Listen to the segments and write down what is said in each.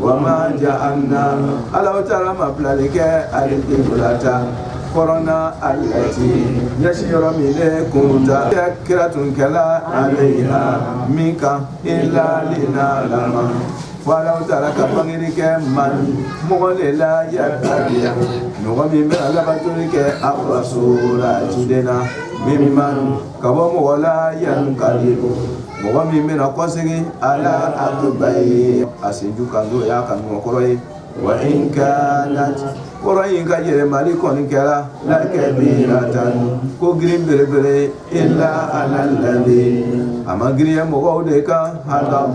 Wama jaalna alahu taala ma bilali kɛ alikibilata kɔrɔn na alati ɲɛsin yɔrɔ min ne kunta kira tun kɛla alayiha min kan ila linaalama fɔ alahu taala ka bangeli kɛ man mɔgɔ de la yatabiu mɔgɔ min bɛ labatoli kɛ arasula ciden na miman Ka bɔ mɔgɔ la yankalibu mɔgɔ min bɛna kɔ segin a laba ye a sinju ka don y'a ka ɲɔgɔn kɔrɔ ye wa in kanat kɔrɔn in ka yɛlɛmali kɔni kɛra lakabiratan ko girin belebele ila ala lazina a ma girinya mɔgɔw de kan hada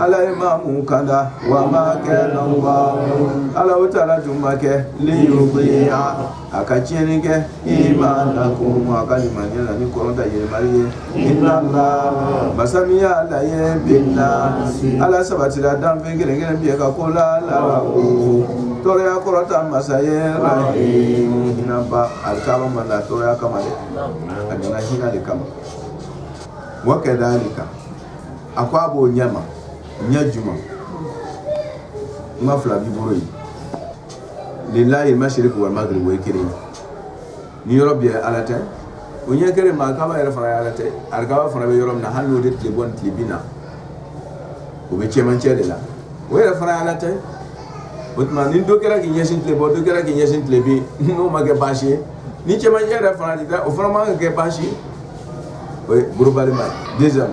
ala ye maa minnu kanda wa ma kana alahu taala tun ma kɛ liyudia a ka tiɲɛni kɛ imanakum aw ka limaniya la ni kɔrɔn ta yɛlɛmali ye inalaha masa min y'ala ye binasi ala sabatira danfɛn kelen kelen bɛɛ ka ko la larawufu tɔɔrɔya kɔrɔta masa ye la hinɛba alikaba ma na tɔɔrɔya kama dɛ a nana hinɛ de kama wa kazalika a ko a b'o ɲɛma ɲɛ jumɛn n ka fila b'i bolo yen lilahi masiriku magiribu ye kelen ni yɔrɔ bɛɛ ala ta o ɲɛ kelen ma kaba yɛrɛ fana ala ta ale fana bɛ yɔrɔ min na hali n'o de tile bɔ tile bin na o bɛ cɛmancɛ de la o yɛrɛ fana ala ta o tuma ni dɔ kɛra k'i ɲɛsin tile bɔ dɔ kɛra k'i ɲɛsin tile bin n'o ma kɛ baasi ye ni cɛmancɛ yɛrɛ fana o fana ma kɛ baasi ye o ye gorobalima ye dezali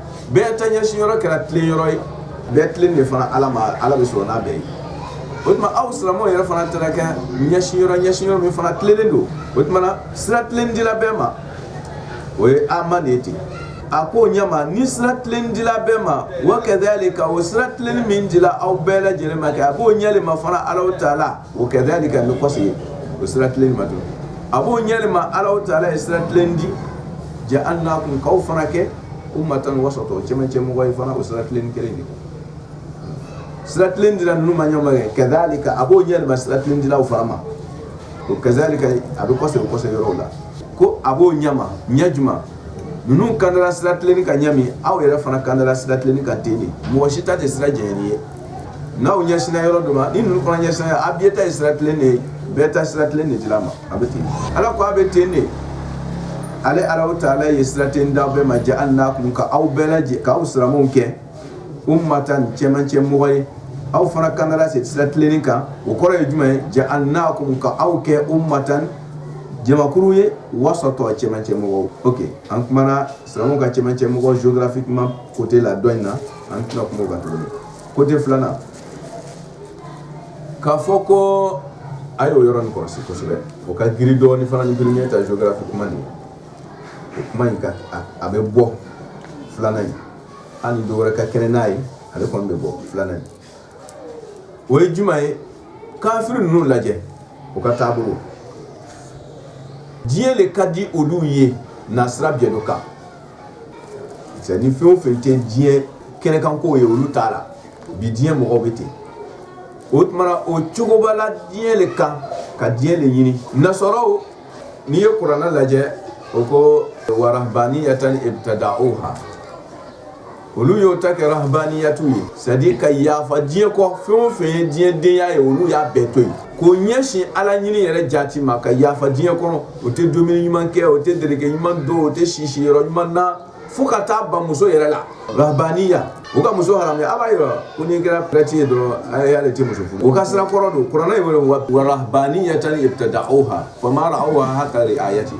bɛɛ ta ɲɛsin yɔrɔ kɛra tilen yɔrɔ ye bɛɛ tilen de fana ala ma ala bɛ sɔrɔ n'a bɛɛ ye o tuma aw silamɛw yɛrɛ fana taara kɛ ɲɛsin yɔrɔ ɲɛsin yɔrɔ min fana tilennen don o tuma na sira tilen dila bɛɛ ma o ye ama de ye ten a ko ɲɛma ni sira tilen dila bɛɛ ma wa kazalika o sira tilenni min dila aw bɛɛ lajɛlen ma kɛ a b'o ɲɛ le ma fana alahu taala o kazalika bɛ kɔsegin o sira tilenni ma tuguni a b'o ɲɛ le ma alahu taala ye sira tilen di jaalnakum k'aw fana kɛ umatan wasatan cɛmancɛ mɔgɔ ye fana o sira tilenni kelen de sira tilen dira ninnu ma ɲɛ min kazalika a b'o ɲɛ le ma sira tilen dila aw fana ma o kazalika a bɛ kɔsegin bɛ kɔsegin yɔrɔ la ko a b'o ɲɛma ɲɛ jumɛn ninnu kandala sira tilennen kan ɲɛ min aw yɛrɛ fana kandala sira tilennen kan ten de mɔgɔ si ta tɛ sira jɛngɛnnen ye n'aw ɲɛsinna yɔrɔ dɔ ma ni ninnu fana ɲɛsinna a bɛɛ ta ye sira tilen de ye bɛɛ ta sira tilen de dila a ma a bɛ ten ala ko a bɛ ten de ale ala taala ye sira tilen di a bɛɛ ma jaalnakum ka aw bɛɛ lajɛ k'aw silamɛw kɛ umatan cɛmancɛ mɔgɔ ye aw fana kanda se sira tilennen kan o kɔrɔ ye jumɛn ye jaalnakum ka aw kɛ umatan jamakulu ye wasatan cɛmancɛ mɔgɔw o an kumana silamɛw ka cɛmancɛ mɔgɔ zodafin kuma kote la dɔ in na an tila kungo ka tuguni ko tɛ filanan k'a fɔ ko a y'o yɔrɔ nin kɔlɔsi kosɛbɛ o ka giri dɔɔni fana ni giri ɲɛ ta géographie kuma nin o kuma in ka a bɛ bɔ filanan in hali dɔ wɛrɛ ka kɛnɛ n'a ye ale kɔni bɛ bɔ filanan in o ye jumɛn ye kafiri ninnu lajɛ u ka taabolo diɲɛ de ka di olu ye nasira bɛɛ dɔ kan Cɛ ni fɛn o fɛn tɛ diɲɛ kɛnɛkanko ye olu t'a la bi diɲɛ mɔgɔw bɛ ten o tuma o cogobala diɲɛ de kan ka diɲɛ de ɲini nasaraw n'i ye kuranɛ lajɛ o ko wa rahbaniyatan ibtada'uha olu y'o ta kɛ rahbaniyatu ye c'est-à-dire ka yafa diɲɛ kɔ fɛn o fɛn ye diɲɛ denya ye olu y'a bɛɛ to yen k'o ɲɛsin ala ɲini yɛrɛ jati ma ka yafa diɲɛ kɔnɔ o tɛ dumuni ɲuman kɛ o tɛ dereke ɲuman don o tɛ si siyɔrɔ ɲuman na fo ka taa ban muso yɛrɛ la rahbaniya u ka muso hami ala b'a yɔrɔ ko n'i kɛra prêtre ye dɔrɔn y'ale tɛ muso furu o ka sira kɔrɔ don kuranɛ y'a wele wa rahbaniyatan ibtada'uha fama ra'awha haqqa ri'ayati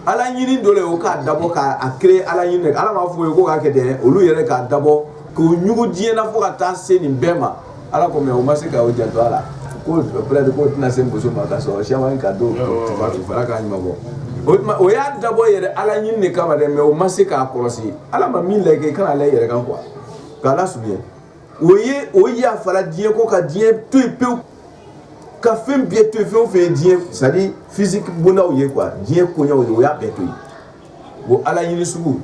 ala ɲini dɔ o k'a dabɔ k'a kɛ ala ɲini ala m'a f'u ye ko k'a kɛ dɛ olu yɛrɛ k'a dabɔ k'u ɲugun diɲɛ na fo ka taa se nin bɛɛ ma ala ko mais u ma se k'u janto a la ko k'o tɛna se muso ma ka sɔrɔ sɛma in ka don fara k'a ɲuman bɔ o y'a dabɔ yɛrɛ ala ɲini de kama dɛ mais o ma se k'a kɔlɔsi ala ma min lajɛ i kana ala yɛrɛ kan quoi k'a lasurunya o ye o yafala diɲɛ kɔ ka diɲɛ to pewu ka fɛn bɛɛ to yen fɛn o fɛn ye diɲɛ c'est-à-dire physique bondaw ye quoi diɲɛ koya ye o y'a bɛɛ to yen bon ala ɲini sugu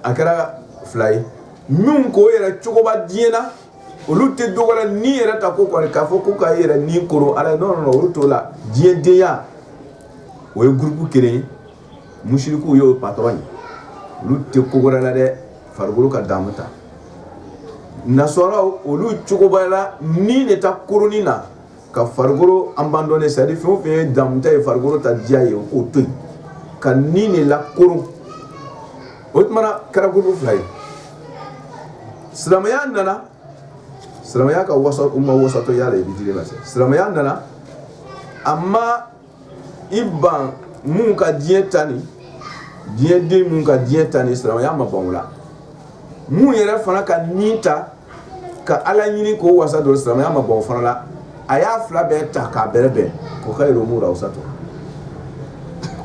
a kɛra fila ye minnu k'o yɛrɛ cogoba diɲɛ na olu tɛ dɔ wɛrɛ la ni yɛrɛ ta ko kɔni k'a fɔ ko ka yɛrɛ ni koron ala ye non non olu t'o la diɲɛdenya o ye groupe kelen ye musirikuw y'o pat ye olu tɛ ko wɛrɛ la dɛ farikolo ka damu ta nasaraw olu cogobala ni de ta koronni na ka farikolo abandonner c'est-à-dire fɛn o fɛn ye damu ta ye farikolo ta diya ye k'o to ka ni de lakoron o tuma na a kɛra groupe fila ye silamɛya nana silamɛya ka waso u ma wasatiya la i bɛ di ma silamɛya nana a ma i ban minnu ka diɲɛ ta ni diɲɛ den minnu ka diɲɛ ta ni silamɛya ma ban a la minnu yɛrɛ fana ka min ta ka ala ɲini k'o wasa don silamɛya ma ban o fana la a y'a fila bɛɛ ta k'a bɛrɛbɛn k'o ka yɛrɛmu la wasatu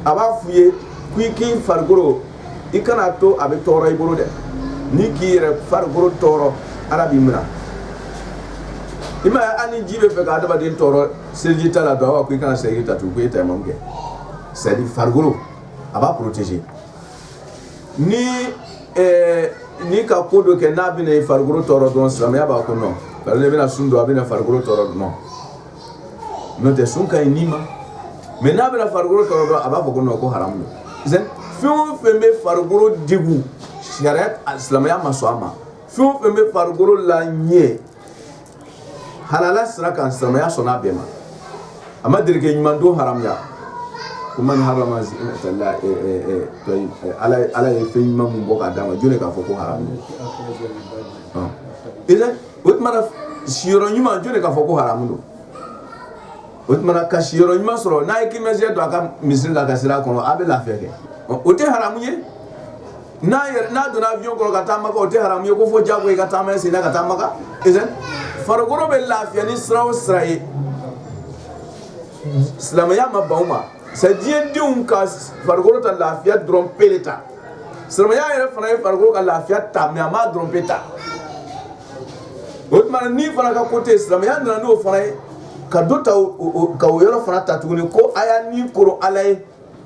a b'a f'u ye k'i k'i farikolo i kana to a bɛ tɔɔrɔ i bolo dɛ n'i k'i yɛrɛ farikolo tɔɔrɔ ala b'i minɛ i m'a ye hali ni ji b'a fɛ ka adamaden tɔɔrɔ seliji t'a la don a ko i kana seliji ta tugun ko e tayamamu kɛ c'est à dire farikolo a b'a protéger ni ɛɛ ni ka ko dɔ kɛ n'a bɛna i farikolo tɔɔrɔ dɔrɔn silamɛya b'a ko non parce que i bɛna sun don a bɛna farikolo tɔɔrɔ dɔrɔn n'o tɛ sun ka ɲi ni ma mɛ n'a bɛna farikolo tɔɔrɔ dɔrɔn a b'a fɔ ko non ko haramu don fɛn o fɛn bɛ farikolo degun sariya silamɛya ma sɔn a ma fɛn o fɛn bɛ farikolo la ɲɛ halala sira kan silamɛya sɔnna a bɛɛ ma a ma dulɔki ɲuman don haya ko man ha ala ye fɛn ɲuman min bɔ k'a d'a ma jɔn k'a fɔ ko ha o tuma si ɲuman jɔn k'a fɔ ko haramu don o tuma ka si ɲuman sɔrɔ n'a ye kɛmɛjɛ don a ka misi la ka sira a kɔnɔ a bɛ lafiya kɛ o tɛ haramu ye n'a yɛrɛ n'a donna avion kɔnɔ ka taama kɛ o tɛ haramu ye ko fɔ diyagoya i ka taama i sen na ka taa makan isn't it farikolo bɛ lafiya ni sira o sira ye silamɛya ma ban o ma c'est diɲɛ denw ka farikolo ta lafiya dɔrɔn pe de ta silamɛya yɛrɛ fana ye farikolo ka lafiya ta mais a m'a dɔrɔn pe ta o tuma na ni fana ka ko tɛ yen silamɛya nana n'o fana ye ka dɔ ta o- o- o- ka o yɔrɔ fana ta tuguni ko a y'a ni koro ala ye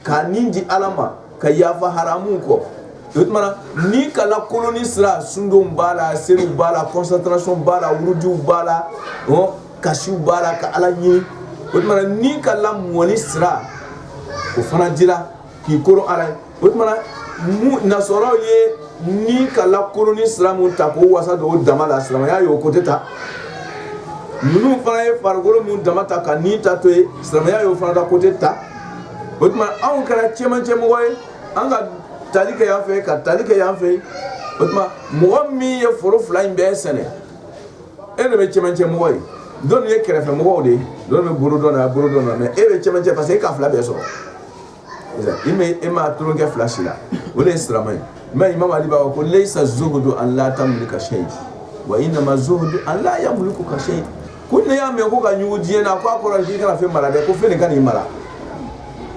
k'a ni di ala ma ka yafa haramu kɔ o tuma ni ka koloni sira sundon b'a la seli b'a la kɔsatasi b'a la wju b'a la kasi b'a la ka ala ɲini o tuma ni ka lamɔni sira o fana dira k'i koro ala ye o tuma nasaraw ye ni ka koloni sira min ta ka wasa don o dama la silamɛya y'o côté ta ninnu fana ye farikolo min dama ta ka ni ta to yen silamɛya y'o fana ka côté ta o tuma anw kɛra cɛmancɛmɔgɔ ye an ka tali kɛ yan fɛ ka tali kɛ yan fɛ o tuma mɔgɔ min ye foro fila in bɛɛ sɛnɛ e de bɛ cɛmancɛmɔgɔ ye tɔ nin ye kɛrɛfɛ mɔgɔw de ye dɔ bɛ bolo dɔ na bolo dɔ na mɛ e bɛ cɛmancɛ parce que e ka fila bɛɛ sɔrɔ i mɛ e ma tulon kɛ fila si la o de ye sirama ye mɛ imam ali b'a fɔ ko leyisa zuhudu an la tamulika sɛyi wa inama zuhudu an la yamulikaka sɛyi ko ne y'a mɛn ko ka ɲugu diɲɛ na ko a kɔrɔ k'i kana fɛn mara dɛ ko fɛn de kan'i mara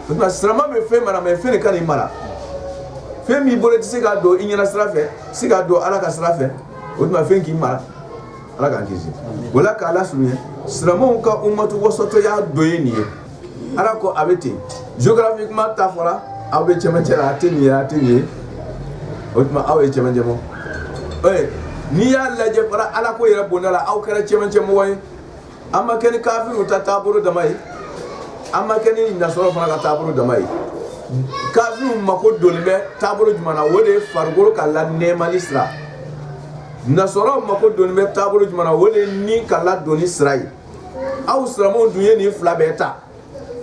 o tuma sirama bɛ fɛn mara mɛ fɛn de kan'i mara fɛn min bolo i tɛ se k'a don i ɲɛnasira fɛ i tɛ se k'a don ala ka sira fɛ o tuma fɛn k'i mara ala k'an kisi o la k'a lasurunya silamɛw ka umatan wasatanya dɔ ye nin ye Ala ko a bɛ ten géographiquement a fɔra aw bɛ cɛ cɛ a tɛ nin ye a tɛ nin ye o tuma aw ye cɛmancɛ bɔ n'i y'a lajɛ bara ala ko yɛrɛ bonda la aw kɛra cɛmancɛmɔgɔ ye an ma kɛ ni kafiriw ta taabolo dama ye an ma kɛ ni nasara fana ka taabolo dama ye kafiriw mako donnen bɛ taabolo jumɛn na o de ye farikolo ka lanɛɛmali sira nasara mako donnen bɛ taabolo jumɛn na o de ye ni ka ladonni sira ye aw siramuw dun ye nin fila bɛɛ ta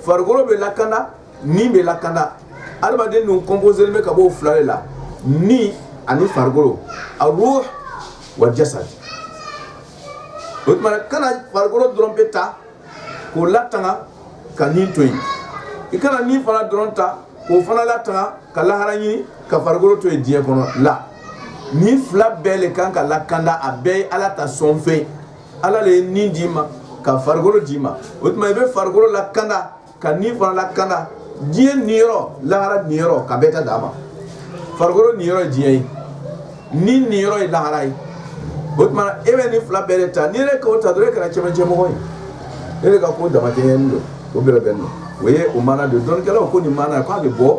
farikolo bɛ lakanda ni bɛ lakanda adamaden ninnu composélen bɛ ka bɔ fila de la ni ani farikolo aruhu wa jasadi o tuma kana farikolo dɔrɔn pe ta k'o latanga ka ni to yen i kana ni fana dɔrɔn ta k'o fana latanga ka lahara ɲini ka farikolo to yen diɲɛ kɔnɔ la nin fila bɛɛ de kan ka lakanda a bɛɛ ye ala ta sɔn fɛ Ala de ye ni d'i ma ka farikolo d'i ma o tuma i bɛ farikolo lakanda ka ni fana lakanda diɲɛ ni lahara ni ka bɛɛ ka d'a ma farikolo ni ye diɲɛ ye ni niyɔrɔ ye lahara ye o tuma e bɛ nin fila bɛɛ de ta ni ne k'o ta dɔrɔn e kɛra cɛcɛmɔgɔ ye e de ka ko damajɛ don o bɛ bɛn don o ye o maana don dɔnnikɛlaw ko nin maana ye k'a bɛ bɔ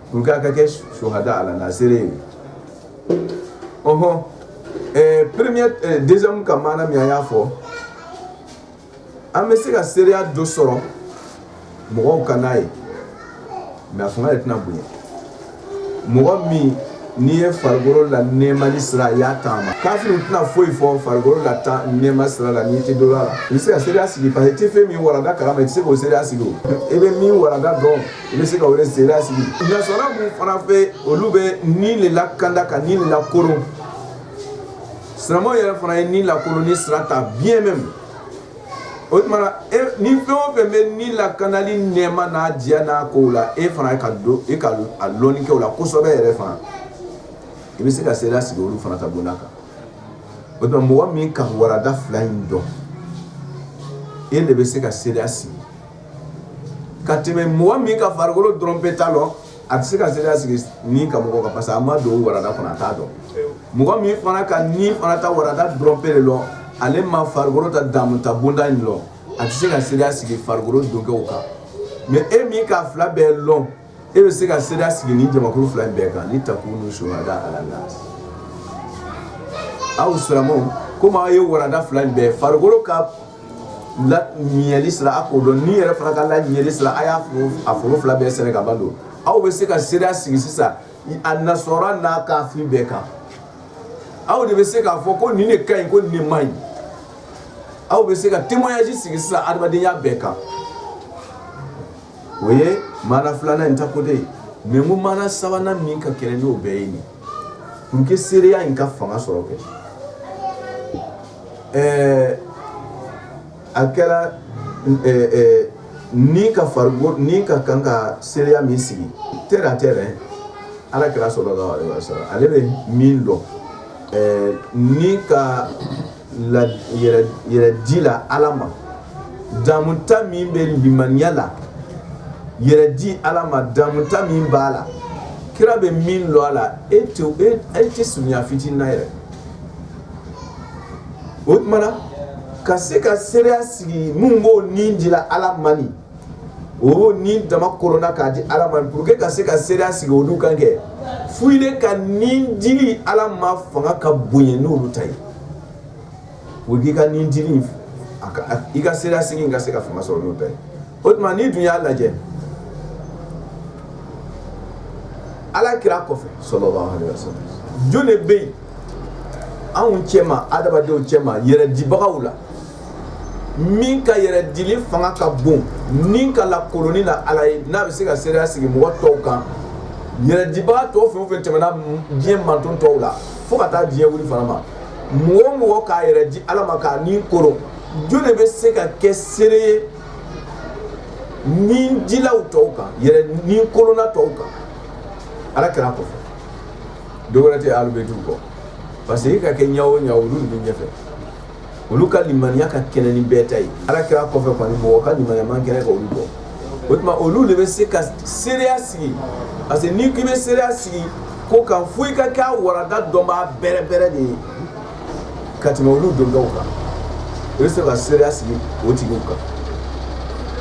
Pour que a ka kɛ suhada ala naasi ye, ɔnhɔn, ɛɛ premier deuxième ka maana min an y'a fɔ, an bɛ se ka seereya dɔ sɔrɔ mɔgɔw ka n'a ye mais a fanga de tɛna bonya, mɔgɔ min n'i ye farikolo lanɛɛmali sira a y'a taama, kafiriw tɛna foyi fɔ farikolo la ta nɛɛma sira la n'i tɛ dɔ la, i bɛ se ka seereya sigi parce que i tɛ fɛn min walanda kalama i tɛ se k'o seereya sigi o, i bɛ min walanda dɔn I bɛ se k'o le seere sigi nasara min fana fɛ olu bɛ ni de lakanda ka ni lakolon sira yɛrɛ fana ye ni lakolonni sira ta bi ɲɛ min o tuma e, ni fɛn o fɛn bɛ ni lakandali nɛɛma n'a diya n'a ko la e fana ka don e ka a lɔni kɛ o la kosɛbɛ yɛrɛ fana i bɛ se ka seereya sigi olu fana ta bonda kan o tuma mɔgɔ min ka warada fila in dɔn e de bɛ se ka seereya sigi ka tɛmɛ mɔgɔ min ka farikolo dɔrɔn pe ta dɔn a tɛ se ka seereya sigi ni ka mɔgɔ kan parce que a ma don warada kɔnɔ a t'a dɔn mɔgɔ min fana ka ni fana ta warada dɔrɔn pe de dɔn ale ma farikolo ta damu ta bonda in dɔn a tɛ se ka seereya sigi farikolo donkɛ kan mais e min k'a fila bɛɛ dɔn e bɛ se ka seereya sigi nin jamakulu fila in bɛɛ kan litakunu suhada ala aw siramu komi aw ye warada fila in bɛɛ farikolokolo ka lali sira a k'o dɔn ni yɛrɛ fana ka laɲali sira a y'a a foro fila bɛɛ sɛnɛ k'a bɛɛ dɔn aw bɛ se ka seereya sigi sisan annasara ni kafiri bɛɛ kan aw de bɛ se k'a fɔ ko nin ka ɲi ko nin ma ɲi aw bɛ se ka témoignage sigi sisan adamadenya bɛɛ kan o ye maana filanan in ta ko de ye mais ko maana sabanan min ka kɛnɛ n'o bɛɛ ye nin n kɛ seereya in ka fanga sɔrɔ kɛ ɛɛ a kɛra ni ka fari ni ka kan ka seereya min sigi tɛ a tɛ ala kira salala alehi salam ale bɛ min dɔn ɛɛ ni ka yɛrɛ di la ala ma damuta min bɛ limaniya la yɛrɛ di ala ma damuta min b'a la kira bɛ min dɔn a la e tɛ e, e tɛ surunya fitinin na yɛrɛ o tuma na ka se ka seereya sigi minnu b'o ni di la ala ma ni o ni dama kɔnɔna k'a di ala ma pour que ka se ka seereya sigi olu kan kɛ fo i ka nin dili ala ma fanga ka bonya n'olu ta ye o k'i ka nin dili a ka i ka seereya sigi ka se ka fanga sɔrɔ n'o ta ye o tuma n'i dun y'a lajɛ ala kira kɔfɛ sallallahu alaihi wasallam jɔn de bɛ yen anw cɛma adamadenw cɛma yɛrɛ dibagaw la min ka yɛrɛ dili fanga ka bon ni ka lakoronni na ala ye n'a bɛ se ka seereya sigi mɔgɔ tɔw kan yɛrɛdibaga tɔw fɛn o fɛn tɛmɛna diɲɛ manton tɔw la fo ka taa diɲɛ wuli fana ma mɔgɔ o mɔgɔ k'a yɛrɛ di ala ma k'a ni koron jɔn de bɛ se ka kɛ seere ye ni dilaw tɔw kan yɛrɛ ni koronna tɔw kan ala kira kɔfɛ dɔ wɛrɛ tɛ alibɛtiw kɔ parce que e ka kɛ ɲa o ɲa olu de bɛ ɲɛfɛ olu ka limaniya ka kɛnɛ ni bɛɛ ta ye ala kira kɔfɛ mɔgɔ ka limaniya man kɛnɛ ka olu bɔ o tuma olu de bɛ se ka seereya sigi parce que n'i k'i bɛ seereya sigi ko kan fo i ka kɛ a baarada dɔnbaa bɛrɛ bɛrɛ de ye ka tɛmɛ olu dɔnnaw kan i bɛ se ka seereya sigi o tigiw kan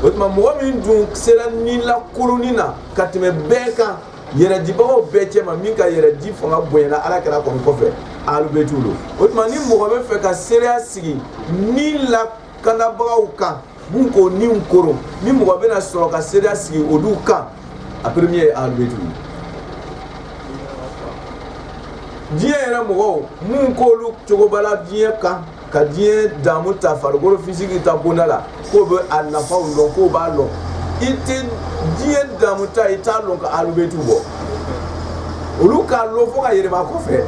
o tuma mɔgɔ min dun sera ni lakoronni na ka tɛmɛ bɛɛ kan yɛrɛdibagaw bɛɛ cɛma min ka yɛrɛdi fanga bonyana ala kira kɔni kɔfɛ alibɛtiw don o tuma ni mɔgɔ bɛ fɛ ka seereya sigi ni lakanabagaw kan mun k'o ni koron ni mɔgɔ bɛna sɔrɔ ka seereya sigi olu kan a premier ye alibɛtiw ye diɲɛ yɛrɛ mɔgɔw mun k'olu cogobala diɲɛ kan ka diɲɛ damu ta farikolo fisiki ta bonda la k'o bɛ a nafaw dɔn k'o b'a dɔn i tɛ diɲɛ damu ta i t'a dɔn ka alibɛtiw bɔ olu k'a dɔn fo ka yɛlɛma kɔfɛ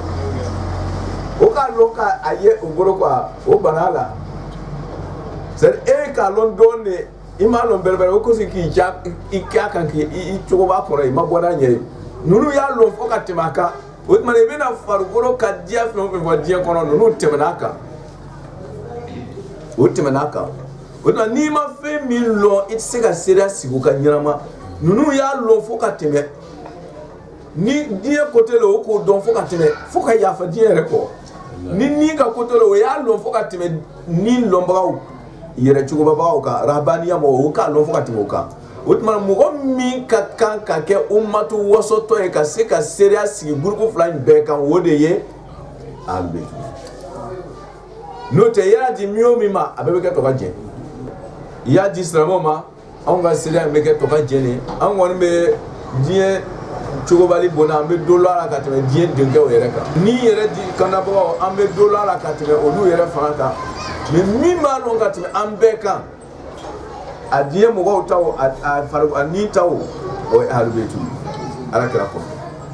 o k'a dɔn ka a ye o bolo ka o ban a la c'est e k'a dɔn dɔɔnin de i m'a dɔn bɛrɛbɛrɛ o kosi k'i ja i k'a kan k'i i cogoba kɔrɔ i ma bɔ n'a ɲɛ ye ninnu y'a dɔn fo ka tɛmɛ a kan o tuma i bɛna farikolo ka diya fɛn o fɛn fɔ diɲɛ kɔnɔ ninnu tɛmɛna a kan o tɛmɛna a kan o tuma n'i ma fɛn min lɔn i tɛ se ka seereya sigi o kan ɲɛnama ninnu y'a lɔn fo ka tɛmɛ ni diɲɛ côté la o k'o dɔn fo ka tɛmɛ fo ka yafa diɲɛ yɛrɛ kɔ ni ni ka côté la o y'a lɔn fo ka tɛmɛ ni lɔnbagaw yɛrɛ cogobagaw kan rabaniya mɔgɔw o k'a lɔn fo ka tɛmɛ o kan o tuma mɔgɔ min ka kan ka kɛ umatu wasɔtɔ ye ka se ka seereya sigi gurupu fila in bɛɛ kan o de ye a bɛ n'o tɛ i y'a di min o min ma a bɛɛ bɛ kɛ to ka jɛ i y'a di silamɛ ma anw ka seereya bɛ kɛ to ka jɛ an kɔni bɛ diɲɛ cogobali bon an bɛ dɔn la ka tɛmɛ diɲɛ denkɛw yɛrɛ kan ni yɛrɛ di kanbagaw an bɛ dɔn la ka tɛmɛ olu yɛrɛ fana kan min b'a dɔn ka tɛmɛ an bɛɛ kan a diɲɛ mɔgɔw ta o, a a fari- a ni ta o o ye ahalubɛti ye ala kira kɔ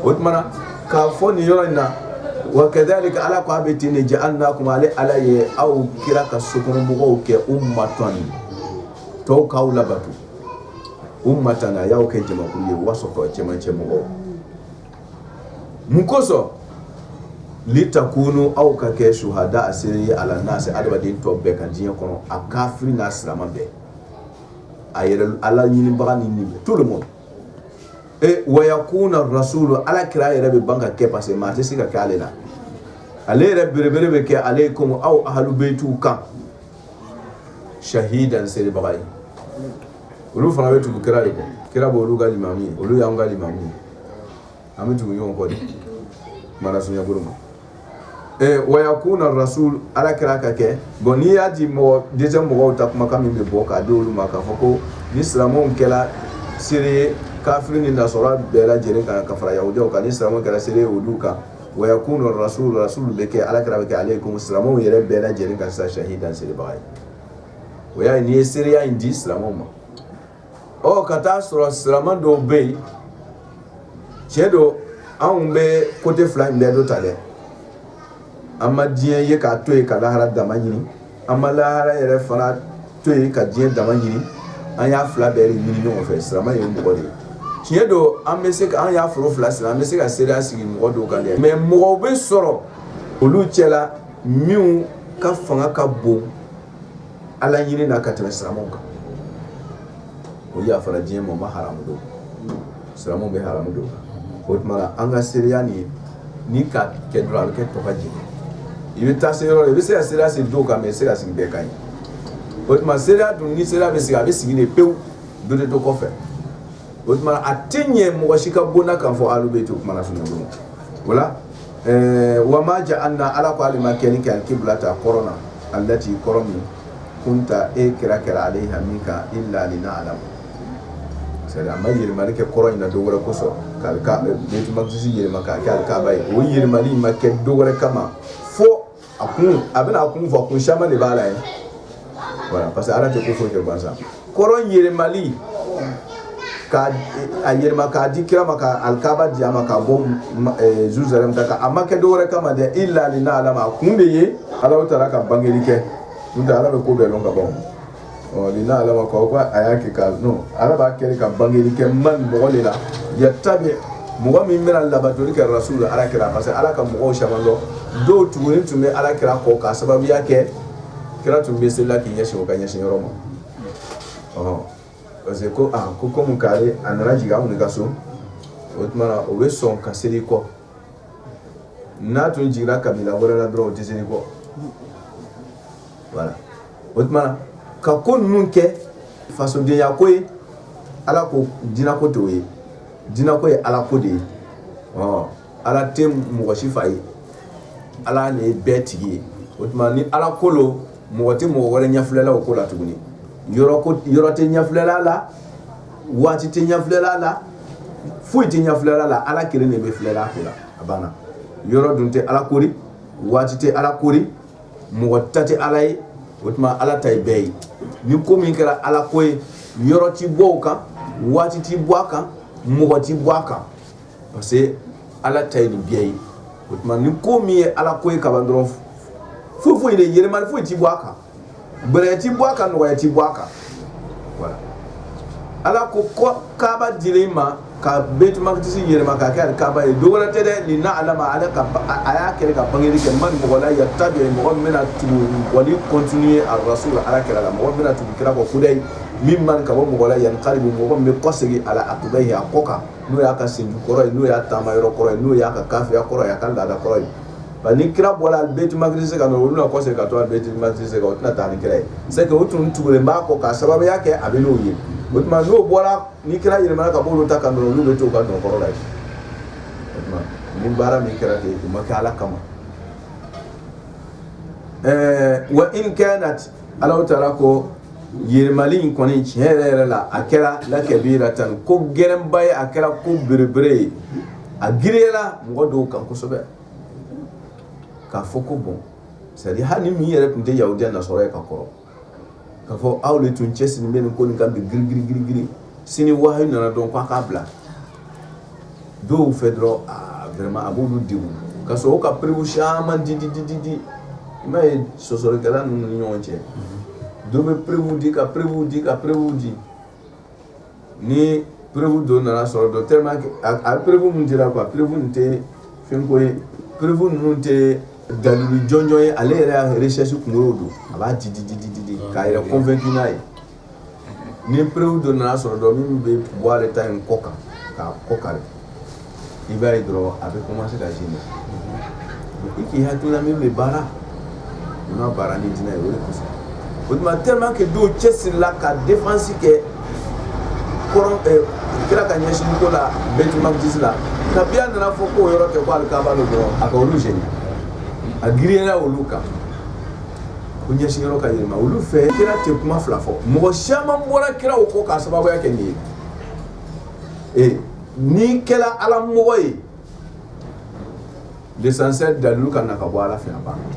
o tuma na k'a fɔ nin yɔrɔ in na wa kadalika ala ko a bɛ ten de jahalinakumu ale ala ye aw kira ka sokɔnɔ mɔgɔw kɛ umatɔn ye tɔw k'aw labato umatan a y'aw kɛ jamakulu ye wasɔtɔ cɛmancɛ mɔgɔw mun kosɔn litakunu aw ka kɛ suhadaa seere ye ala nasi adamaden tɔ bɛɛ kan diɲɛ kɔnɔ a kafiri n'a silamɛ bɛɛ a yɛrɛ ala ɲinibaga ni nin to ma ee waya kun na rasul ala kira a yɛrɛ bɛ ban ka kɛ parce que maa tɛ se ka kɛ ale la ale yɛrɛ belebele bɛ kɛ aleyikumu aw ahalubɛti kan sahidan seerebaga ye olu fana bɛ tugu kira de kɔ kira bɛ olu ka limamu ye olu y'an ka limamu ye an bɛ tugu ɲɔgɔn kɔ de mara sunyabolo ma ee waya kun na rasul ala kira ka kɛ bɔn n'i y'a di mɔgɔ dɛsɛ mɔgɔw ta kumakan min bɛ bɔ k'a di olu ma k'a fɔ ko ni silamɛw kɛra seere ye kafiri ni nasara bɛɛ lajɛlen kan ka fara yahudiyaw kan ni silamɛw kɛra seere ye olu kan waya kun na rasul rasul bɛ kɛ ala kira bɛ kɛ aleyikumu silamɛw yɛrɛ bɛɛ lajɛlen kan sisan sahidan seerebaga ye o y'a nin ye seereya in di silamɛw ma ɔ ka taa sɔrɔ silamɛ dɔw bɛ yen tiɲɛ don anw bɛ kote fila in bɛɛ dɔ ta dɛ an ma diɲɛ ye k'a to yen ka lahara dama ɲini an ma lahara yɛrɛ fana to yen ka diɲɛ dama ɲini an y'a fila bɛɛ de ɲini ɲɔgɔn fɛ silamɛ ye mɔgɔ de ye tiɲɛ don an bɛ se ka an y'a foro fila siri an bɛ se ka seereya sigi mɔgɔ dɔw kan dɛ mɛ mɔgɔw bɛ sɔrɔ olu cɛla minnu ka fanga ka bon ala ɲini na ka tɛmɛ silamɛ kan o yafara diɲɛ ma ma ha don sira bɛ ha don o tuma an ka seereya nin ni ka kɛ a bɛ kɛ to ka jɛ i bɛ taa se yɔrɔ i bɛ se ka seereya sigi dɔw kan mɛ i se ka sigi bɛɛ ka ɲi o tuma seereya dun ni seereya bɛ sigi a bɛ sigi de pewu don de to kɔfɛ o tuma a tɛ ɲɛ mɔgɔ si ka bonda kan fɔ bɛ to o wala ɛɛ wa ma jahalina ala k'ale ma kɛ ni kɛ kibilata kɔrɔn alati kɔrɔn min kunta e kira kɛra aleyiha min kan ila ni ala ma sɛ ma yɛlɛma kɛ kɔrɔn in na dɔ wɛrɛ kosɔn k'alikudusi yɛlɛma k'a kɛ alikaba ye o yɛlɛma ma kɛ dɔ wɛrɛ kama fo a kun a bɛna a kun fɔ kun caman de b'a la ye voilà parce que ala tɛ ko foyi kɛ gansan kɔrɔn yɛlɛmali ka a yɛlɛma k'a di kira ma ka alikaba di a ma ka bɔ eh, jérusalem da kan a ma kɛ dɔwɛrɛ kama dɛ ila lina alama a kun de ye ala taala ka bangeli kɛ n'o tɛ ala bɛ ko bɛɛ lɔn ka ban ɔ lina alama kɔ ko a y'a kɛ k'a lɔn ala b'a kɛ ka bangeli kɛ man mɔgɔ de la yattabi mɔgɔ min bɛna labatoli kɛ rasula ala kira parce que ala ka mɔgɔw caman don dɔw tugunin tun bɛ ala kira kɔ k'a sababuya kɛ kira tun bɛ selila k'i ɲɛsin o ka ɲɛsin yɔrɔ ma ɔ parce que ko aa ko komi k'ale a nana jigin anw de ka so o tuma na o bɛ sɔn ka seli kɔ n'a tun jiginna kabila wɛrɛ la dɔrɔn o tɛ seli kɔ voilà o tuma ka ko ninnu kɛ fasodenya ko ye ala ko diinako tɛ o ye diinako ye ala ko de ye ɔ ala tɛ mɔgɔ si fa ye ala de ye bɛɛ tigi ye o tuma ni ala ko don mɔgɔ tɛ mɔgɔ wɛrɛ ɲɛfilɛla o ko la tugun yɔrɔ tɛ ɲɛfilɛla la waati tɛ ɲɛfilɛla la foyi tɛ ɲɛfilɛla la ala kelen de bɛ filɛla ko la a banna yɔrɔ dun tɛ ala kori waati tɛ ala kori mɔgɔ ta tɛ ala ye o tuma ala ta ye bɛɛ ye ni ko min kɛra ala ko ye yɔrɔ tɛ bɔ a kan waati tɛ bɔ a kan mɔgɔ tɛ bɔ a kan parce que ala ta ye nin bɛɛ ye o tuma ni ko min ye ala ko ye ka dɔrɔn foyi foyi tɛ yɛlɛma foyi tɛ bɔ a kan gɛlɛya tɛ bɔ a kan nɔgɔya tɛ bɔ a kan ala ko ko kaba dilen ma ka bɛtumakisi yɛlɛma ka kɛ kaba ye dɔwɛrɛ tɛ dɛ lina alama ala ko a y'a kɛ ka bangeli kɛ man mɔgɔ la yattabi u mɔgɔ min bɛna tugu wali kɔntini arasula ala kira la mɔgɔ bɛna tugu kira kɔ kudayi mimman ka bɔ mɔgɔ la yankalibu mɔgɔ min bɛ kɔsegin ala akibayi a kɔ kan n'o y'a ka senju kɔrɔ ye n'o y'a taama yɔrɔ kɔrɔ ye n'o y'a ka kafiriya kɔrɔ ye a ka laada kɔrɔ ye nka ni kira bɔra bɛtumakisi ka na olu na kɔsegin ka to bɛtumakisi o tɛna taa ni kira ye se o tun tugulen b'a kɔ k'a sababuya kɛ a bɛ n'o ye o tuma n'o bɔra ni kira yɛlɛmana ka bolo ta ka don olu bɛ to ka don kɔrɔ la ye ni baara min kɛra ten u ma kɛ ala kama ɛɛ wa in kanat Ala taala ko yɛlɛmali in kɔni tiɲɛ yɛrɛ yɛrɛ la a kɛra lakabiratan ko gɛlɛnba ye a kɛra ko belebele ye a girinyara mɔgɔ dɔw kan kosɛbɛ k'a fɔ ko bon seri hali ni min yɛrɛ tun tɛ yahudiya nasɔrɔ ye ka kɔrɔ k'a fɔ aw de tun cɛ siri bɛ nin ko nin ka bi g g g sini wahyu nana dɔrɔn k'a k'a bila dɔw fɛ dɔrɔn aa vraiment a b'olu degun ka sɔrɔ u ka preuve caman di di di di di i m'a ye sɔsɔlikɛla ninnu ni ɲɔgɔn cɛ dɔ bɛ preuve di ka preuve di ka preuve di ni preuve dɔ nana sɔrɔ dɔ tellement que a a preuve min dira quoi preuve nin tɛ fɛnko ye preuve ninnu tɛ dalilu jɔnjɔn ye ale yɛrɛ y'a recherche kunkolo don a b'a di di di di di k'a yɛrɛ convaincu n'a ye ni preuve dɔ nana sɔrɔ dɔrɔn min bɛ bɔ a ta in kɔ kan k'a kɔ kari i b'a ye dɔrɔn a bɛ commencer ka ji ma i k'i hakilila min bɛ baara i ma baara ni diinɛ ye o de kosɔn o tuma tellement que dɔw cɛsirila ka défense kɛ kɔrɔ kira ka ɲɛsin ko la bayitulimakidisi la kabi a nana fɔ k'o yɔrɔ tɛ ko alikaba don dɔrɔn a ka olu jeni a girinyara olu kan u ɲɛsinyɔrɔ ka yɛlɛma olu fɛ kira tɛ kuma fila fɔ mɔgɔ caman bɔra kira o kɔ k'a sababuya kɛ nin ye n'i kɛra ala mɔgɔ ye l'essentiel dalilu ka na ka bɔ ala fɛ a banna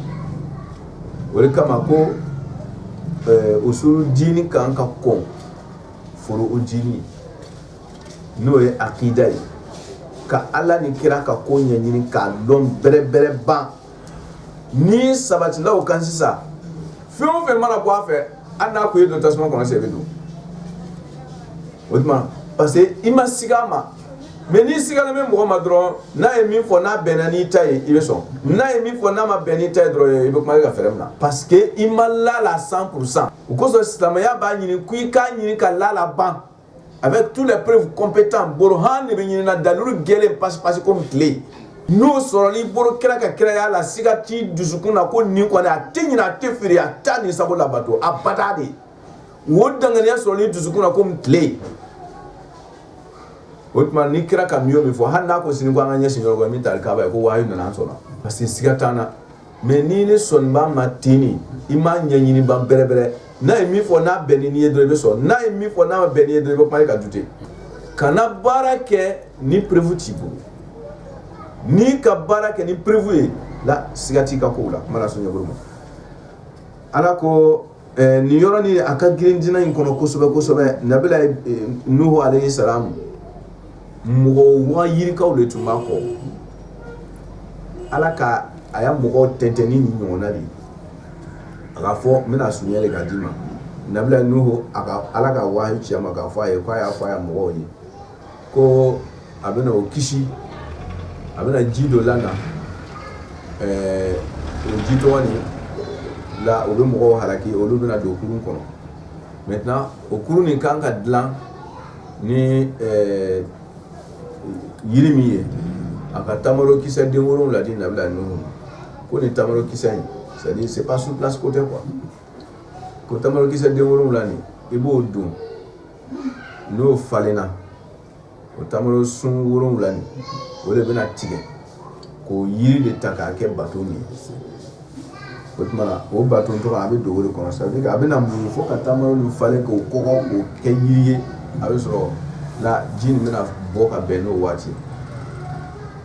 o de kama ko usul diini kan ka kɔn fɔlɔ o ɲini n'o ye akida ye ka ala ni kira ka ko ɲɛɲini k'a dɔn bɛrɛbɛrɛ ban n'i sabatila o kan sisan fɛn o fɛn mana bɔ a fɛ hali n'a ko i ye don tasuma kɔnɔ sen i bɛ don o tuma parce que i ma siga a ma mais n'i sigalen bɛ mɔgɔ ma dɔrɔn n'a ye min fɔ n'a bɛnna n'i ta ye i bɛ sɔn n'a ye min fɔ n'a ma bɛn n'i ta ye dɔrɔn i bɛ kuma i ka fɛɛrɛ min na parce que i ma la a la 100 pour cent o kosɔn silamɛya b'a ɲini ko i k'a ɲini ka la a la ban avec tous les preuves compétents bolo ha de bɛ ɲini dalilu gɛlen pasipasi komi tile n'o sɔrɔlen i bolo kira ka kiraya la siga t'i dusukun na ko nin kɔni a tɛ ɲina a tɛ fili a t'a ni sago labato abada dɛ o dankɛnɛya sɔrɔlen i dusukun na komi tile o tuma ni kira ka min o min fɔ hali n'a ko sini ko an ka ɲɛsinyɔrɔ min ta k'a ye ko wa nana sɔnna parce que siga t'an na mais n'i n'i sɔnnen b'a ma ten i m'a ɲɛɲini ban bɛrɛbɛrɛ n'a ye min fɔ n'a bɛn n'i ye dɔrɔn i bɛ sɔn n'a ye min fɔ n'a bɛn n'i ye dɔrɔn i bɛ commencer ka douter kana baara kɛ ni preuve t'i bolo n'i ka baara kɛ ni preuve ye la siga t'i ka ko la mana sunjata ma ala ko Ɛɛ nin yɔrɔnin a ka girin diinɛ in kɔnɔ kosɛbɛ kosɛbɛ nabila nuhu alayhi salamu mɔgɔ waa yirika de tun b'a kɔ ala ka a ya mɔgɔw tɛntɛn ni ɲɔgɔn de ye a k'a fɔ n bɛna sun de k' d'i ma nabila nuhu ala ka wahyu ci a ma k'a fɔ a ye ko a y'a fɔ a ya mɔgɔw ye ko a bɛna o kisi a bɛna ji dɔ la na ɛɛ o ji tɔgɔ nin la o bɛ mɔgɔw halaki olu bɛna don kurun kɔnɔ maintenant o kurun nin kan ka dilan ni jiri min ye a ka tamaro kisɛ den wolonwula di nabila nuhu ko nin tamaro kisɛ in sadi se pa su pasi ko tɛ kuwa ko tamaro kisɛ den wolo wolonwula nin i b'o don n'o falenna o tamaro sun wolonwula nin o de bɛna tigɛ k'o yiri de ta k'a kɛ bato min ye o tuma na o bato tɔgɔ a bɛ dogo de kɔnɔ ça veut dire que a bɛna muɲu fo ka tamaro nin falen k'o kɔgɔ k'o kɛ yiri ye a bɛ sɔrɔ la ji nin bɛna bɔ ka bɛn n'o waati ye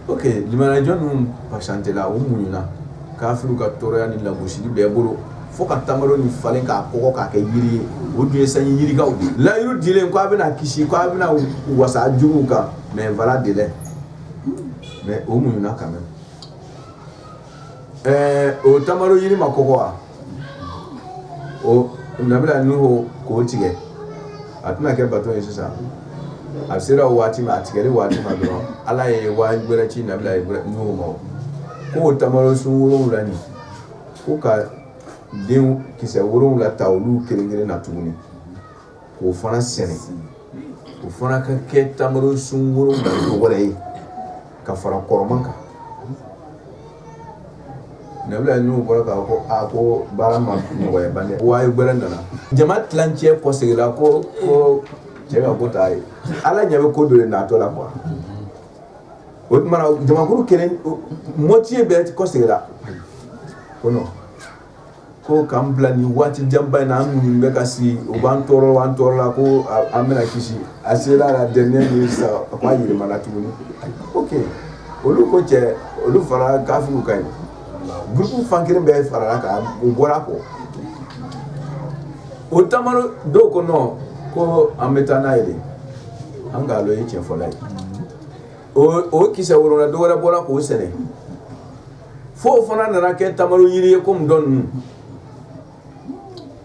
ok limaniyajɔn ninnu patientela u muɲuna kafiriw ka tɔɔrɔya ni lagosili bɛɛ bolo fo ka tamaro nin falen k'a kɔgɔ k'a kɛ jiri ye o dun ye sanji yirikaw layidu dilen ko a bɛna kisi ko a bɛna wasa juguw kan mais voilà délai ma o muɲuna quand même o tamaro jiri ma kɔgɔ wa nabila nuhu k'o tigɛ a tɛna kɛ bato ye sisan a sera waati ma a tigɛli waati ma dɔrɔn ala ye wahi wɛrɛ ci nabila nuhu ma k'o tamaro sun wolonwula nin ko ka den kisɛ wolonwula ta olu kelen kelen na tuguni k'o fana sɛnɛ o fana ka kɛ tamaro sun wɛrɛ ye ka fara kɔrɔma kan n bɔra k'a ko a ko baara ma nɔgɔya ban wahi gɛrɛ nana jama tilancɛ kɔ seginla ko ko cɛ ka ko taa ye ala ɲa bɛ ko don ye natɔ la kuwa o tuma jamakuru kelen moitié bɛɛ kɔ seginla ko Ko k'an bila ni waati janba in an minnu bɛ ka sigi u b'an tɔɔrɔ an tɔɔrɔ la ko an bɛna kisi a sera la dɛ min sa a k'a jirimana tuguni o olu ko cɛ olu fara kafiriw kan dusutu fan kelen bɛ fara kan u bɔra a kɔ o tuma dɔw ko nɔn ko an bɛ taa ɲɛ an k'a ye cɛfɔla ye o kisɛ wolonwula dɔw wɛrɛ bɔra k'o sɛnɛ fɔ o fana nana kɛ tamaro jiri ye ko min dɔn nuhu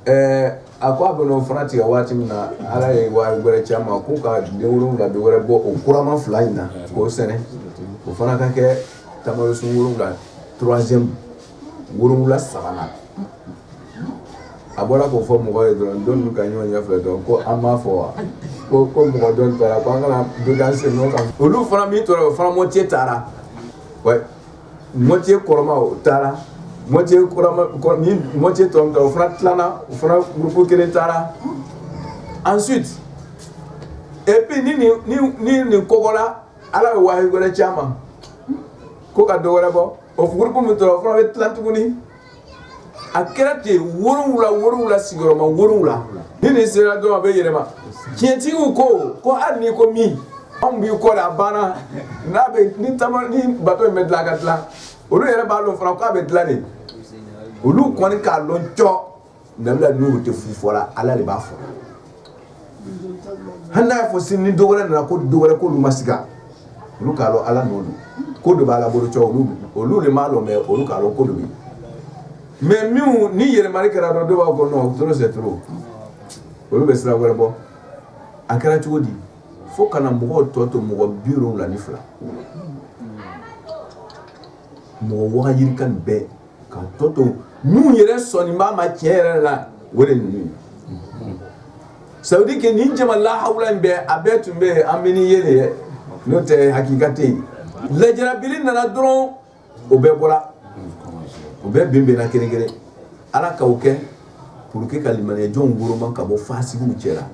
ɛɛ a ko a bɛna o fana tigɛ waati min na ala ye wahi wɛrɛ ci a ma ko ka den wolonwula dɔ wɛrɛ bɔ o kurama fila in na k'o sɛnɛ o fana ka kɛ tamaro sun wolonwula troisième wolonwula sabanan a bɔra k'o fɔ mɔgɔw ye dɔrɔn don ninnu ka ɲɔgɔn ɲɛfɛ dɔrɔn ko an b'a fɔ wa ko ko mɔgɔ dɔw taara ko an kana dokan sen nɔ kan olu fana min tora o fana moitié taara moitié kɔrɔma o taara mɔ moitié tora o fana tilala u fana gurupu kelen taara ensuite et puis ni nin kɔgɔla ala bɛ wahayi wɛrɛ c'a ma ko ka dɔw wɛrɛ bɔ o gurupu min tora o fana bɛ tila tuguni a kɛra ten worowula worowula sigiyɔrɔma worowula ni nin sera dɔrɔn a bɛ yɛlɛma tiɲɛtigiw ko ko hali n'i ko min anw b'i kɔ de a banna n'a bɛ ni taama ni bato in bɛ dilan a ka dilan olu yɛrɛ b'a dɔn fana k'a bɛ dilan de olu kɔni k'a dɔn cɔ Nka bɛ n' tɛ fu fɔra ala de b'a fɔ hali n'a fɔ sin ni dɔw nana ko dɔw wɛrɛ ko olu ma s olu k'a dɔn ala don ko de b'ala bolo olu de b'a dɔn mɛ olu k'a dɔn ko don mɛ min ni yɛlɛma kɛra dɔrɔn dɔw bɛ bɔ nɔn tora se olu bɛ sira wɛrɛ bɔ a kɛra cogo di fo ka na mɔgɔw tɔ to mɔgɔ bi la ni fila mɔgɔ wagayi ka bɛɛ ka tɔ to minnu yɛrɛ sɔnnen b'a ma tiɲɛ yɛrɛ la o de ninnu sayidi kɛ nin jama lahawula in bɛɛ a bɛɛ tun bɛ an bɛ ni ye de ye n'o tɛ hakikate ye lajarabili nana dɔrɔn o bɛɛ bɔra u bɛɛ binbinna kelen kelen ala k'o kɛ pour que ka limaniyajɔnw woloma ka bɔ fasikiw cɛ la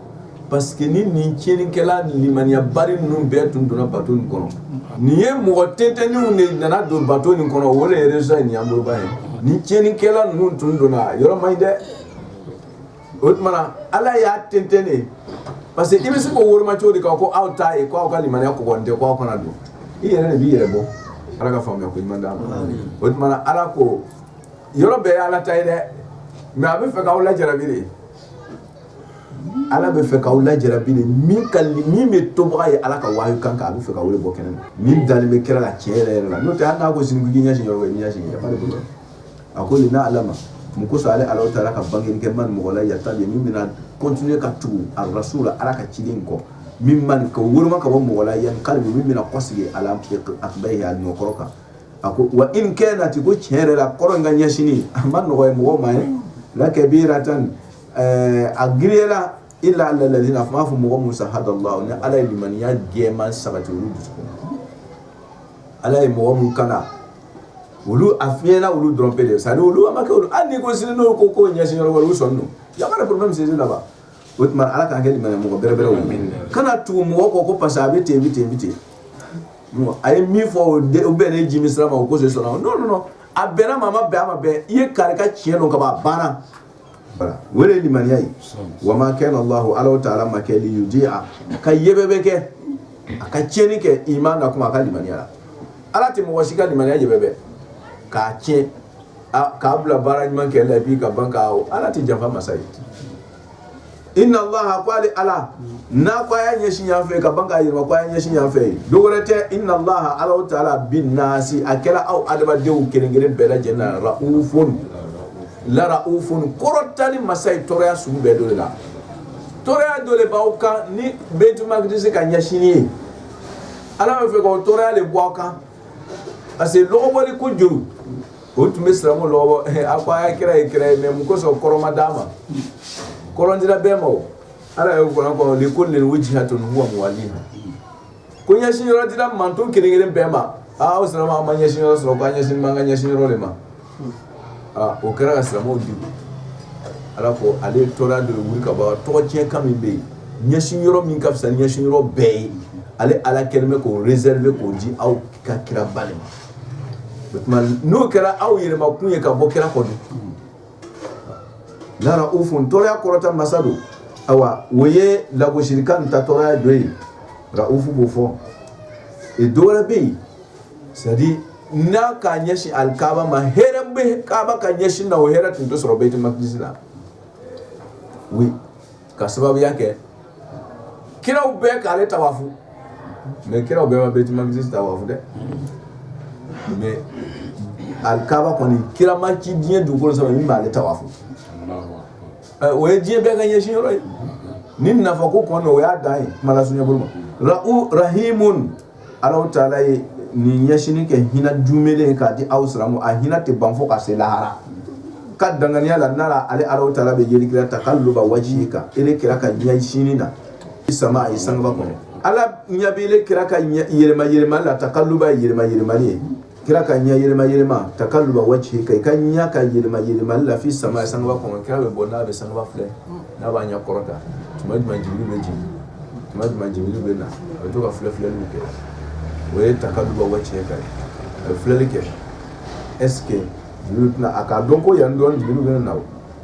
parce que ni nin tiɲɛnikɛla limaniyabali ninnu bɛɛ tun donna bato in kɔnɔ nin ye mɔgɔ tɛntɛnniw de nana don bato in kɔnɔ o de ye résultat in y'an bolo ba ye nin tiɲɛnikɛla ninnu tun donna yɔrɔ man ɲi dɛ o tuma na Ala y'a tɛntɛn de parce que i bɛ se k'o woloma cogo di k'a ko aw t'a ye ko aw ka limaniya kɔgɔlen tɛ ko aw kana don i yɛrɛ de b'i yɛrɛ bɔ Ala ka faamuya ko ɲuman d'an ma o tuma na Ala ko yɔrɔ bɛɛ ye ala ta ye dɛ nka a b'a fɛ k'aw lajarabi de ala b'a fɛ k'aw lajarabi de min ka min bɛ tobaga ye ala ka wa kan kan a b'a fɛ ka o le bɔ kɛnɛ min dalen bɛ kira la tiɲɛ yɛrɛ yɛrɛ la n'o tɛ an n'a ko sini k'i ɲɛsin yɔrɔ ɲɛ ɲɛsin yan fan de bolo a ko linaalama mun kosɔn ale ala taara ka bange kɛ man mɔgɔ la yatabiyu min bɛna kɔntine ka tugu arasula ala ka ciden kɔ miman ka woloma ka bɔ mɔgɔ la yankalibu min bɛna kɔsigi ala akibayihi a ɲɔkɔrɔ kan a ko wa in kanati ko tiɲɛ yɛrɛ la kɔrɔn in ka ɲɛsin a man nɔgɔ ye mɔgɔ ma ye lakabiratan a gla ila alalazina a b'a fɔ mɔgɔ musa ha la ni ala ye limaniya gɛnman sabati olu dusu ala ye mɔgɔ min kala olu a fiɲɛyla olu dɔrɔnbe de sa olu a ma kɛ hali ni ko sini n'o ko ko ɲɛsin yɔrɔ olu sɔn don yama bɛ sin laban o tuma ala k'an kɛ limaniya mɔgɔ bɛrɛbɛrɛw ye kana tugu mɔgɔ kɔ ko parce que a bɛ ten bɛ ten bɛ ten a ye min fɔ o bɛn ne ji min sira ma o ko se sɔrɔ non non a bɛnna maa ma bɛn a ma bɛn i ye kari ka tiɲɛ dɔn ka ban a banna voilà o de ye limaniya ye wa ma kana lahu ala taala ma kɛ liyudi'a ka yebe bɛ kɛ a ka tiɲɛni kɛ imanakum aw ka limaniya la ala tɛ mɔgɔ si ka limaniya yebe bɛ k'a tiɲɛ k'a bila baara ɲuman kɛ la i'i ka ban ala tɛ janfa masa ye i na ko ale ala n'a ko a y'a ɲɛsin yan fɛ ka ban k'a jira ko a ye ɲɛsin yan fɛ yen dɔ wɛrɛ tɛ inna alahu taala bi nasi a kɛra aw adamadenw kelen kelen bɛɛ lajɛlen na larauf larauf kɔrɔtali masa ye tɔɔrɔya sugu bɛɛ don de la tɔɔrɔya dɔ de b'aw kan ni bayti maqdis ka ɲɛsin ye ala bɛ fɛ ka tɔɔrɔya de bɔ aw kan parce que lɔgɔbɔli ko juguw tun bɛ silamɛ lɔgɔbɔ a ko a ye kira ye kira ye mais mun kosɔn kɔrɔn ma d'a ma kɔrɔn dira bɛɛ ma o ala y'o kuranɛ kɔnɔ likulli wijhatun huwa muwalliha ko ɲɛsin yɔrɔ dira mantɔn kelen kelen bɛɛ ma aa o silamɛ an ma ɲɛsin yɔrɔ sɔrɔ ko an ɲɛsin b'an ka ɲɛsin yɔrɔ de ma aa o kɛra ka silamɛw degun Ala ko ale tɔɔrɔya de wili ka bɔ aw kan tɔgɔtiɲɛkan min bɛ yen ɲɛsin yɔrɔ min ka fisa ni ɲɛsin yɔrɔ bɛɛ ye ale Ala kɛlen bɛ k'o reserver k'o di aw ka kira ba de ma o tuma n'o kɛra aw yɛlɛmakun ye ka bɔ kira kɔ dun laraufun tɔɔrɔya kɔrɔta masa don awa o ye lagosilikan ta tɔɔrɔya dɔ ye raufu b'o fɔ dɔwɛrɛ bɛ yen c'est à dire n'a k'a ɲɛsin alikaaba ma hɛrɛ bɛ kaaba ka ɲɛsin na o hɛrɛ tun tɛ sɔrɔ bayti maqdis la ka sababuya kɛ kiraw bɛɛ k'ale tawafu mais kiraw bɛɛ ma bayti maqdis tawafu dɛ mais alikaaba kɔni kira ma ci diɲɛ dugukolo sɔrɔ min m'ale tawafu o ye diɲɛ bɛɛ ka ɲɛsin yɔrɔ ye ni nafa ko kɔnɔ o y'a dan ye kuma la sunjata bolo ma rahimu Ala taala ye nin ɲɛsinni kɛ hinɛ duumɛlen ye k'a di aw silamɛw ma hinɛ tɛ ban fo ka se lahara ka danganiya la nara ale ala taala bɛ yeli kɛ la takaluba wajihika ile kira ka ɲɛsin na fi samai sankaba kɔnɔ ala ɲɛ b'ile kira ka yɛlɛmayɛlɛmali la takaluba yɛlɛmayɛlɛmali ye kira ka ɲɛ yɛlɛma yɛlɛma takaluba wajihika i ka ɲɛ ka yɛlɛma yɛlɛma la fi samai sankaba kɔnɔ kira bɛ bɔ n'a bɛ sankaba filɛ n'a b'a ɲɛ kɔrɔta tuma jumɛn jibril bɛ jigin tuma jumɛn jibril bɛ na a bɛ to ka filɛ filɛliw kɛ o ye takaluba wajihika ye a bɛ filɛli kɛ est-ce que tɛna a k'a dɔn ko yan dɔn jibril bɛ na o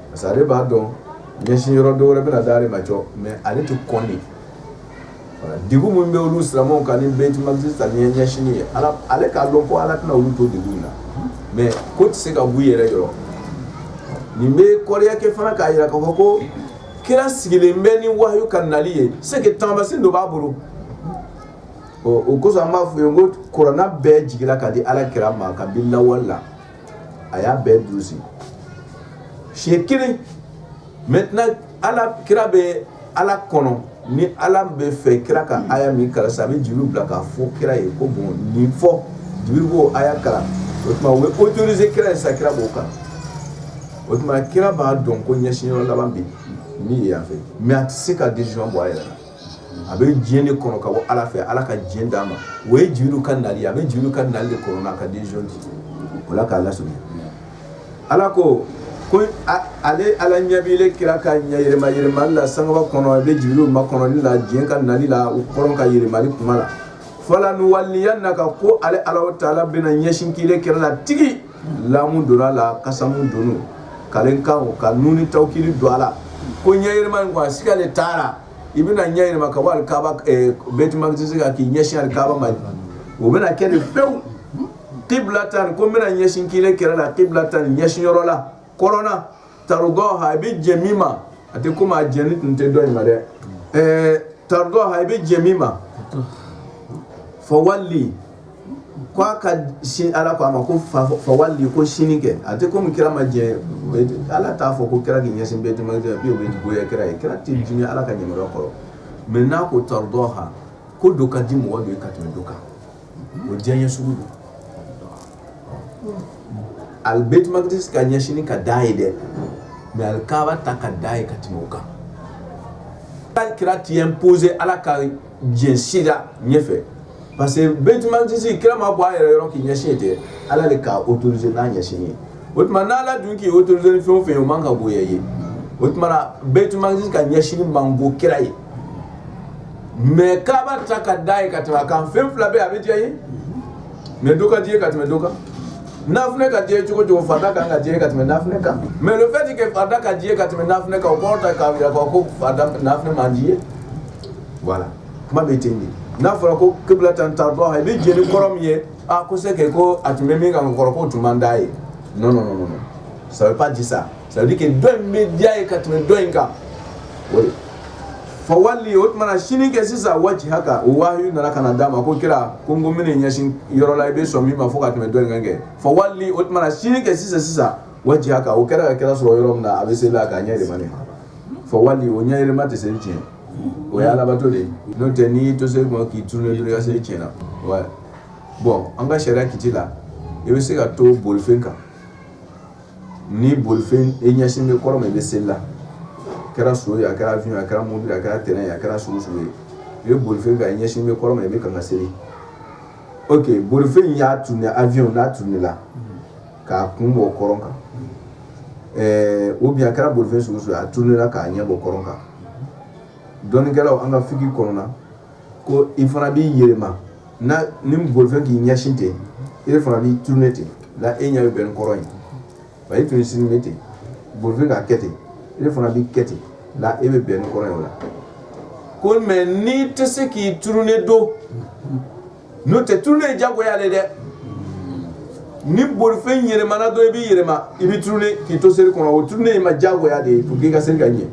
parce que ale b'a dɔn ɲɛsin yɔrɔ dɔ wɛrɛ bɛna di ale ma jɔ mais ale tɛ kɔn de degun min bɛ olu silamɛw kan ni bɛtimakisi ɲɛsin ye ale k'a dɔn ko ala tɛna olu to degun in na mɛ k'o tɛ se ka bɔ u yɛrɛ yɔrɔ nin bɛ kɔrɔyakɛ fana k'a jira ka fɔ ko kira sigilen bɛ ni wahayu ka nali ye se taamasiyɛn dɔ b'a bolo o kosɔn an b'a fɔ yen ko kuranɛ bɛɛ jigira ka di ala kira ma kabi lawale la a y'a bɛɛ durusi siɲɛ kelen maintenant Ala kira bɛ Ala kɔnɔ ni Ala bɛ fɛ kira ka aya min kalan sisan a bɛ Jibirila bila k'a fɔ kira ye ko bon nin fɔ Jibirila b'o aya kalan o tuma o bɛ autoriser kira ye sisan kira b'o kalan o tuma kira b'a dɔn ko ɲɛsinyɔrɔ laban bɛ yen min ye yan fɛ mais a tɛ se ka decision bɔ a yɛrɛ la a bɛ diɲɛ de kɔnɔ ka bɔ ala fɛ ala ka diɲɛ d'a ma o ye jibirilu ka nali a bɛ jibirilu ka nali de kɔnɔ a ka den o la k'a las ala ko ko ale ala ɲɛ b'ile kira ka ɲɛ yɛlɛmayɛlɛmali la sankaba kɔnɔ a bɛ jibirilu makɔnɔ ni diɲɛ ka nali la u kɔrɔ ka yɛlɛmali kuma la falanuwalliyanaka ko ale ala taala bɛna ɲɛsin k'ile kira la tigi lamu don a la kasamu don kalikan ka nuni tawkidi don a la ko ɲɛyɛlɛma in ko a siga de t'a la i bɛna ɲɛyɛlɛma ka bɔ alikaba eh, bɛtimakisi kan k'i ɲɛsin alikaba ma o bɛna kɛ de pewu kiblatan ko n bɛna ɲɛsin k'ile kira la kiblatan ɲɛsin yɔrɔ la kɔrɔn na tardaha i bɛ jɛn min ma a tɛ komi a jɛnnen tun tɛ dɔ in ma dɛ ɛɛ tardaha i bɛ jɛn min ma fawali ko a ka sin ala ko a ma ko fawali ko sini kɛ a tɛ komi kira ma jɛn ala t'a fɔ ko kira k'i ɲɛsin bɛtimakisi o bɛ goya kira ye kira tɛ dimi ala ka ɲɛmɔgɔ kɔrɔ mɛ n'a ko tardaha ko dɔ ka di mɔgɔ dɔ ye ka tɛmɛ dɔ kan o diyaɲɛ sugu don Ali bɛtimakisi ɲɛsin ka d'a ye dɛ mɛ alikaba ta ka d'a ye ka tɛmɛ o kan tan kira t'i opposer ala ka decision ɲɛfɛ parce que bɛtimakisi kira ma bɔ a yɛrɛ yɔrɔ k'i ɲɛsin tɛ ala de k'a autoriser n'a ɲɛsin yen o tuma n' ala dun k'i autoriser fɛn fɛn ye o man kan ka goya i ye o tuma bɛtimakisi ka ɲɛsin man go kira ye mɛ kaaba ta ka d'a ye ka tɛmɛ a kan fɛn fila bɛ a bɛ diya ye mɛ dɔ ka d'i ye ka tɛmɛ dɔ kan nafila ka d'i ye cogo cogo farida ka kan ka diya i ye ka tɛmɛ nafila kan mɛ le fait que farida ka d'i ye ka tɛmɛ nafila kan o kɔrɔ tɛ k'a jira ko farida nafila man d'i ye voilà kuma bɛ ten de n'a fɔra ko kiblatan tardaha i bɛ jɛn ni kɔrɔn min ye a ko se kɛ ko a tun bɛ min kan kɔrɔ k'o tun man d'a ye non non non non ça veut pas dire ça Sabu kɛ dɔ in bɛ diya ye ka tɛmɛ dɔ in kan fa wali o tumana sini kɛ sisan wajihaka u waa nana ka d'a ma ko kira ko ko mini ɲɛsin yɔrɔ la i bɛ sɔn min ma fɔ ka tɛmɛ dɔn kɛ fa wali o tumana sini kɛ sisan sisan wajihaka o kɛra ka kira sɔrɔ yɔrɔ min na a bɛ seli la ka ɲɛ ma fa wali o ɲɛ yɛlɛma tɛ seli tiɲɛ o ye alabato de n'o tɛ n'i to se ma k'i tun ka seli tiɲɛna na wa bɔn an ka sariya kiti la i bɛ se ka to bolifɛn kan ni bolifɛn e ɲɛsin bɛ kɔrɔn ma i bɛ seli la a kɛra so a kɛra a kɛra mun a kɛra t a kɛra s s ye i bɛ bolifɛn fɛ ɲɛsin bɛ kɔrɔn ma i bɛ ka seli o que bolifɛn y'a turune a vyw n'a turunela k'a kun bɔ kɔrɔn kan o bi a kɛra bolifɛn sugu a turunela k'a ɲɛ bɔ kɔrɔn kan dɔnnikɛlaw an ka fili kɔnɔna ko i fana b'i yɛlɛma ni bolifɛn k'i ɲɛsin ten e fana b'i turune ten la e ɲɛ bɛ bɛn kɔrɔn in ma e tun sini ne ten bolifɛn k'a kɛ ten e fana b'i kɛ ten la e bɛ bɛn kɔrɔn in la ko mɛ n'i tɛ se k'i turune don n'o tɛ turune ye jagoya de dɛ ni bolifɛn yɛlɛmana dɔrɔn i b'i yɛlɛma i b'i turune k'i to seli kɔnɔ o turune ye i ma jagoya de ye pour que i ka seli ka ɲɛ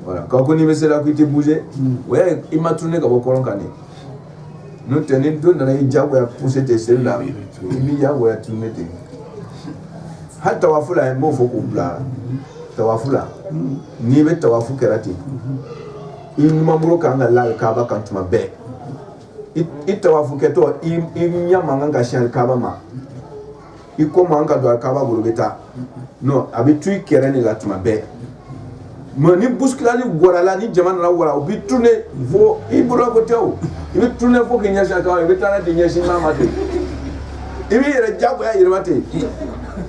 voilà k'a ko n'i bɛ seli la k'i tɛ bouger hmm. o y'a ye i ma turune ka bɔ kɔrɔ kan de n'o tɛ ni dɔ nana i jagoya pousser ten seli la i b'i jagoya turune ten hali tawafu la n b'o fɔ k'u bila tawafu la hmm. n'i bɛ tawafu kɛ la ten hmm. i numanbolo kan ka la kaaba kan tuma bɛɛ. i tawafukɛtɔ i ɲɛ man kan ka sin kaaba ma i kɔ man kan ka don kaaba bolo bɛ taa a bɛ to i kɛrɛ de la tuma bɛɛ mɛ ni bousculade warala ni jama nana wa u b'i turune fo i bolo ko tɛ o i b'i turune fo k'i ɲɛsin kan i bɛ taa di ɲɛsin n'a ma ten i bɛ yɛrɛ jagoya yɛlɛma ten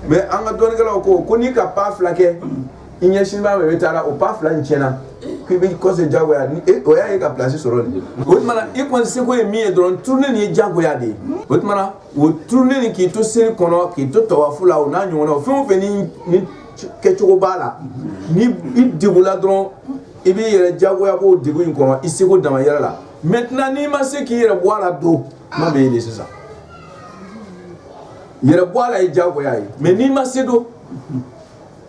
mɛ an ka dɔnnikɛlaw ko ko n'i ka pas fila kɛ i ɲɛ sin b'a ma i taara o pas fila in tiɲɛna k'i bɛ kɔsegin jagoya ni e o y'a ye ka place sɔrɔ nin o tuma na i kɔni seko ye min ye dɔrɔn turune nin ye jagoya de ye o tuma na o turune nin k'i to seli kɔnɔ k'i to tawafu la o n'a ɲɔgɔnnaw fɛn o fɛn ni ni kɛcogo b'a la ni i degula dɔrɔn i b'i yɛrɛ jagoya bɔ degun in kɔnɔ i seko dama yɛrɛ la maintenant n'i ma se k'i yɛrɛ bɔ a la don kuma bɛ yen de sisan i yɛrɛ bɔ a la ye jagoya ye mais n'i ma se don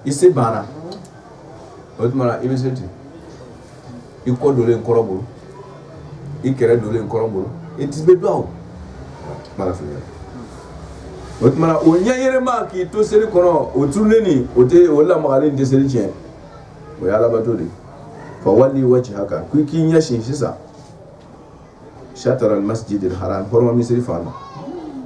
i se banna o tuma na i bɛ seli ten i kɔ donnen kɔrɔn bolo i kɛrɛ donnen kɔrɔn bolo i tɛ bɛ dɔn o tuma na o ɲɛ yɛlɛma k'i to seli kɔnɔ o turune nin o tɛ o lamagalen tɛ seli tiɲɛ o ye alabato de ye fa wali wajihaka ko k'i ɲɛ sin sisan Sitara masiji de ha hɔrɔnɔrɔma misiri fan ma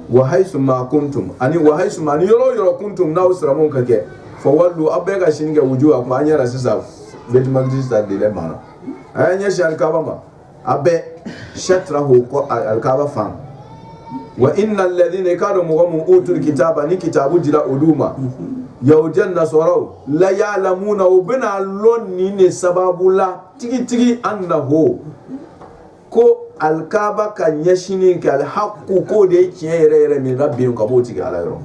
wa hayi kun tun ani wa hayi ni yɔrɔ yɔrɔ kun tun n'aw sera ka kɛ fa walu aw bɛɛ ka ɲɛsini kɛ wuju a an yɛrɛ sisan bɛsa de banna a ye ɲɛsin alikaba ma a bɛɛ sira h ko alikaba fan wa ina lazina i k'a dɔn mɔgɔ min utu kitaba ni kitabu dira olu ma yajɛ nasaraw la yalamuna u bɛna lɔn nin de sababu la tigitigi an na h ko alikaba ka ɲɛsini kɛ alihaku k'o de ye tiɲɛ yɛrɛ yɛrɛ min rabihim ka b'o tigi ala yɔrɔ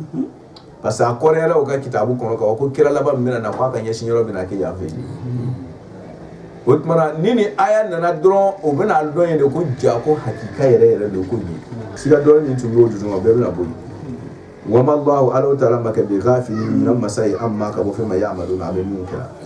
parce que a kɔrɔyara o ka kitabu kɔnɔ ka ko kira laban min bɛna na k'a ka ɲɛsin yɔrɔ bɛna kɛ yan fɛ o tuma ni nin aya nana dɔrɔn o bɛna a dɔn ye de ko jaa ko hakika yɛrɛ yɛrɛ de ko nin siga dɔɔnin min tun b'o dusu ma bɛɛ bɛna bɔ yen wama lahu ala taala ma kɛ bikafili ɲinan masa ye anma ka bɔ fɛn ma yamaluna bɛ min kɛra